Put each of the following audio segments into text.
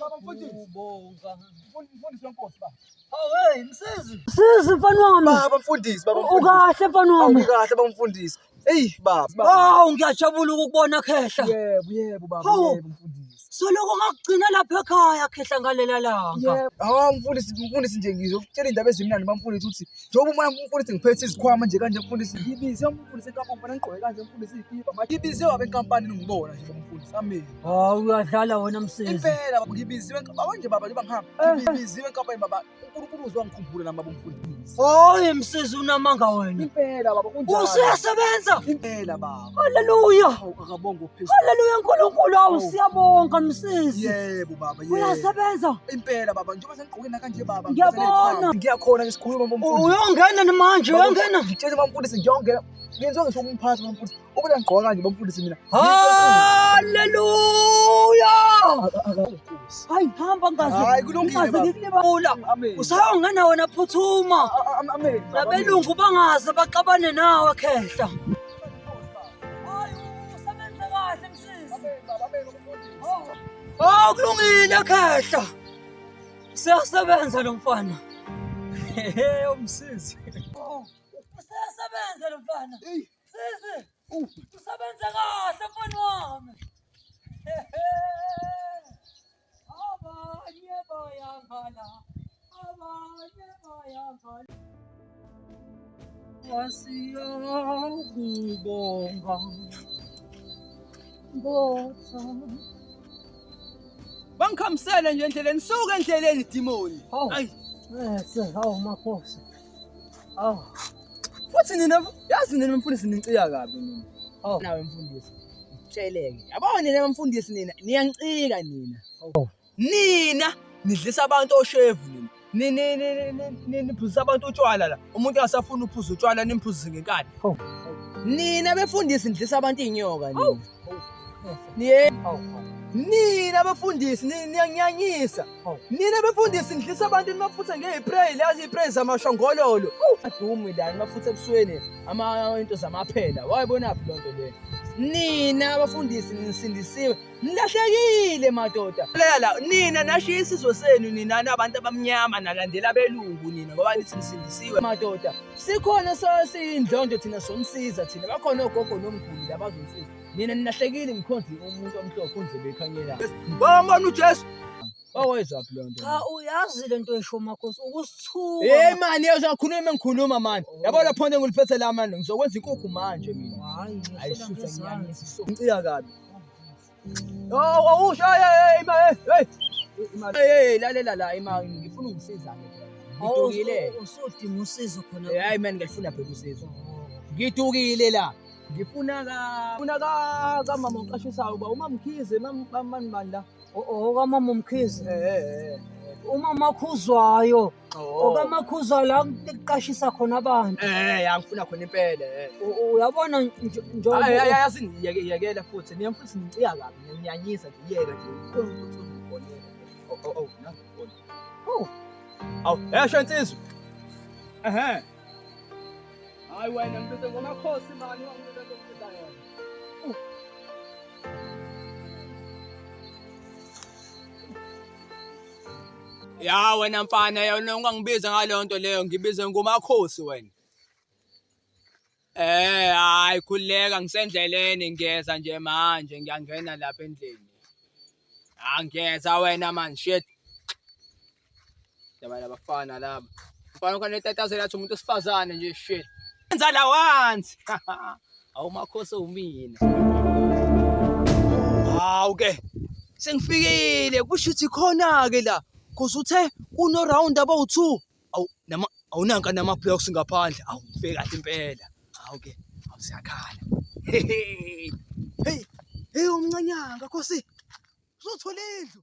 Baba mfundisi. Ubonga. Mfundisi wenkosi baba. Hey msizi. Msizi mfana wami. Baba mfundisi, baba mfundisi. Ukahle mfana wami. Ngikahle baba mfundisi. Hey baba. Hawu ngiyajabula ukubona khehla. Yebo, yebo baba, yebo mfundisi. Soloko ngakugcina lapha ekhaya khehla ngalela langa. Hawu mfundisi, mfundisi nje ngizokutshela indaba ezimnandi bamfundisi ukuthi njengoba uma mfundisi ngiphethe izikhwama nje kanje mfundisi. Ngibize umfundisi enkampani, ngigqoke kanje mfundisi ikipa. Ngibize wabenkampani ngibona nje mfundisi. Amen. Hawu uyadlala wena msisi. Impela baba ngibiziwe baba nje baba nje bangihamba. Eh. Ngibiziwe enkabeni baba. UNkulunkulu uzwa ngikhumbule nami baba umfundisi. Hayi msisi unamanga wena. Impela baba kunjalo. Usuyasebenza. Impela baba. Haleluya. Akabonga uphezulu. Haleluya uNkulunkulu awu siyabonga msisi. Yebo baba yebo. Uyasebenza. Impela baba njengoba sengigqoke na kanje baba. Ngiyabona. Ngiyakhona ngisikhuluma baba umfundisi. Uyongena manje uyongena. Ngitshele baba umfundisi ngiyongena. Ngenzwa ngisho umphathi bamfundisi. Ubona ngigqoka kanje bamfundisi mina. Haleluya! Hayi hamba ngaze. Hayi kulungile. Ngikubula. Usayo ngana wena phuthuma. Amen. Labelungu bangaze baxabane nawe khehla. Hayi usebenze kahle msisi. Amen baba, amen umfundisi. Oh kulungile khehla. Siyasebenza lo mfana. Hehe umsisi. Usesebenze lo mfana. Sisi. Usebenze kahle mfana wami. Abanye bayangala. Abanye bayangala. Wasiyakubonga. Botha. Bangikhamisele nje endleleni, suka endleleni dimoni. Hayi. Bese hawu makhosi. Aw. Futhi nina yazi nina mfundisi ninciya kabi nina. Aw. Nawe mfundisi. Tsheleke. Yabona nina mfundisi nina niyancika nina. Aw. Nina nidlisa abantu oshevu nina. Nini nini nini niphuzisa abantu utshwala la. Umuntu angasafuna uphuza utshwala nimphuzise ngenkani. Nina befundisi nidlisa abantu inyoka nina. Niye nina bafundisi niyanyanyisa nina bafundisi nidlisa abantu nimaphutha ngeyipray lazi ipray zamashongololo adumi la nimaphutha ebusweni ama into zamaphela wayibonaphi lonto le nina abafundisi nisindisiwe nilahlekile madoda lela nina nashiya isizwe senu nina nabantu abamnyama nalandela belungu nina ngoba nithi nisindisiwe madoda sikhona sasiyindlondlo thina somsiza thina bakhona ogogo nomguli labazomsiza nina ninahlekile ngikhonzi umuntu omhlophe undlebe ekhanyela bambona ujesu owezwaphi loo nto cha uyazi le nto esho makhosi ukusithuka hey mani uzakhuluma uma ngikhuluma mani oh. yabo lapho nto ngiliphethe la mani ngizokwenza inkukhu manje mina hayi ngicika kabi Awusho imali. Hey lalela la imali ngifuna ungisiza ke. Ngidukile. Usudinga usizo khona. Hayi man ngifuna phela usizo. Ngidukile la. Ngifuna ka ngifuna ka kamama oqashisayo uba uma mkhize mamani bani la. Okamama umkhize. Eh eh. Umama okhuzwayo. ngoba oh. amakhuza la kuqashisa khona abantu eh angifuna khona impela eh. uyabona njengoba yazi ngiyekele futhi niye futhi ngiciya kabi ngiyanyisa nje yeke nje oh oh oh nangifona oh aw esho insizwa ehe hayi wena mntwana ngomakhosi mani wangibeka lokuthatha yona Ya wena mfana yona ungangibiza ngaleyo nto leyo ngibize ngumakhosi wena. Eh hayi khuleka ngisendleleni ngiyeza nje manje ngiyangena lapha endlini. Angiyeza wena man shit. Yabana bafana laba. Mfana ukanetataze lathi umuntu osifazane nje shit. Enza la once. Awu makhosi umina. Hawu ke. Sengifikile kusho ukuthi khona ke la. Kuze uthe kuno round about 2. Awu nama awunanka nama blocks ngaphandle. Awu ngifike kahle impela. Hawu ke. Awu siyakhala. Hey. Hey umncanyanga khosi. Uzothola indlu.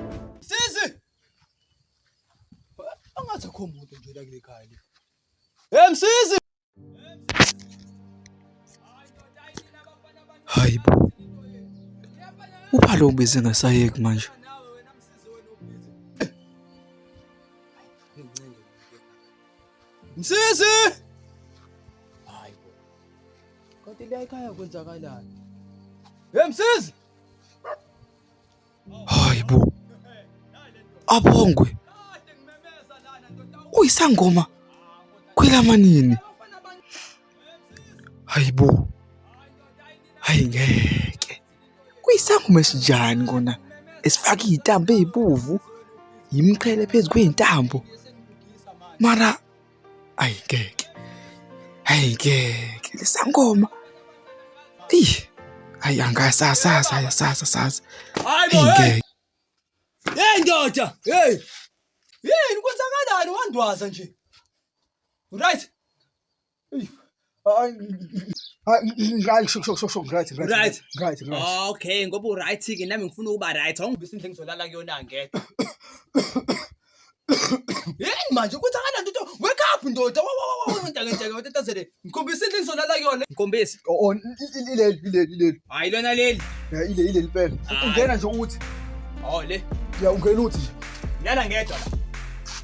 Sisi! Angathi akho muntu nje la kule khaya le. Hey msisi! Hayi bo. Uphalo ubize ngasayeki manje. Msisi! Hayi bo. Kanti la ekhaya kwenzakalani? Hey msisi! Hayi bo. Abongwe. Uyisangoma kwelamanini. Hayi bo. Hayi ngeke. Uyisangoma esinjani kona? Esifaka izintambo ezibovu, yimqhele phezu kwezintambo. Mara ayi ngeke ayi ngeke lisangoma eyi ayi angasasazi ayasazi sazi ayi ngeke hey ndoda hey yini kwenzakalani wandwaza nje right okay ngoba uright ke nami ngifuna ukuba right awungibisa indle ngizolala kuyona ngedwa yini manje ukuthi akananto into wake up ndoda ntakenteketazele ngikhombisa indle ngizolala kuyona ngikhombisa ileli ileli ileli hayi lona leli ileli ileli impela ungena nje uthi o le ya ungena uthi nje lala ngedwa la